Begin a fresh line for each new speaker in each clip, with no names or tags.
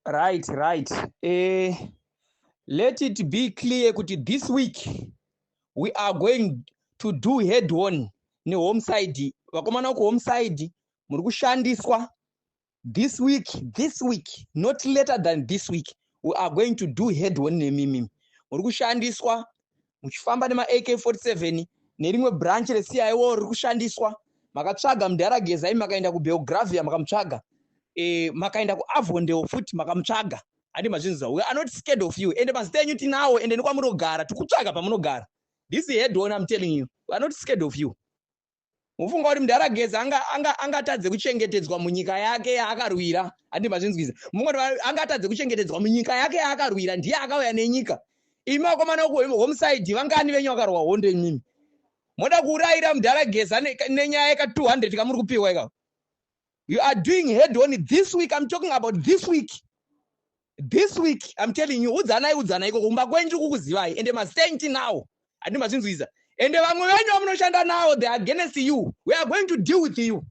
right right eh, let it be clear kuti this week we are going to do head on nehome side vakomana uko home side muri kushandiswa this week this week not later than this week we are going to do head on nemimi muri kushandiswa muchifamba nema AK47 nerimwe branch re CIO riri kushandiswa makatsvaga mudhara Gezai makaenda ku Belgravia makamutsvaga eh makaenda ku Avondale futi makamutsvaga handi mazvinzwa we are not scared of you ende mazita enyu tinawo ende nekwamunogara tikutsvaga pamunogara this head on I'm telling you we are not scared of you Mufunga kuti Mdaragedza anga anga angatadze kuchengetedzwa munyika yake yaakarwira handi mazvinzwiza mufunga kuti angatadze kuchengetedzwa munyika yake yaakarwira ndiye akauya nenyika imi vakomana uku homside vangani venyu vakarwa hondo imimi moda kuurayira Mdaragedza nenyaya yeka 200 kamuri kupiwa ikako You are doing head on this week. I'm talking about this week. This week, I'm telling you, udzanai udzanai iko kumba kwenyu kukuzivai ende masenti now. Andi mazvinzwiza. Ende vamwe venyu vamunoshanda nawo they are against you. We are going to deal with you.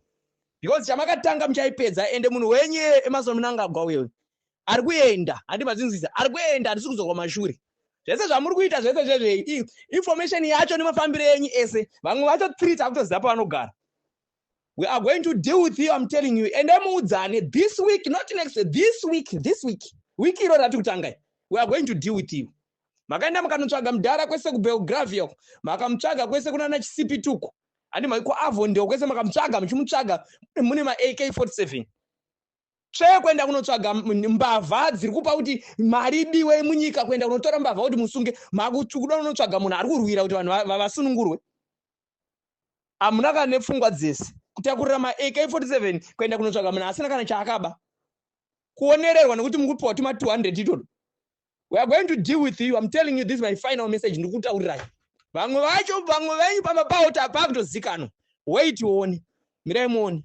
Because chamakatanga muchaipedza ende munhu wenyu emasono munangagwa uyo. Ari kuenda, andi mazvinzwiza. Ari kuenda, atisi kuzorwa mashure. Zvese zvamuri kuita zvese zvezvei. Information yacho nemafambiro enyu ese. Vamwe vacho treat akutoziva pavanogara. we are going to deal with you i'm telling you ende muudzane this week not next this week this week week iro rati kutangai we are going to deal with you makaenda makanotsvaga mudhara kwese kubelgravia uko makamutsvaga kwese kunana chisipi tuko handi maiko avo ndio kwese makamutsvaga muchimutsvaga mune ma ak 47 tsvee kuenda kunotsvaga mbavha dziri kupa kuti mari idiwe munyika kuenda kunotora mbavha kuti musunge makuda kunotsvaga munhu ari kurwira kuti vanhu vavasunungurwe hamuna kana nepfungwa dzese kutakurira maak47 kuenda kunotsvaga munhu asina kana chaakaba kuonererwa nekuti mukupiwa tuma 200 itoto we are going to deal with you im telling you this my final message ndikutaurirai vamwe vacho vamwe venyu pamba pawo tapaa kutozikanwa wait uone mirai muone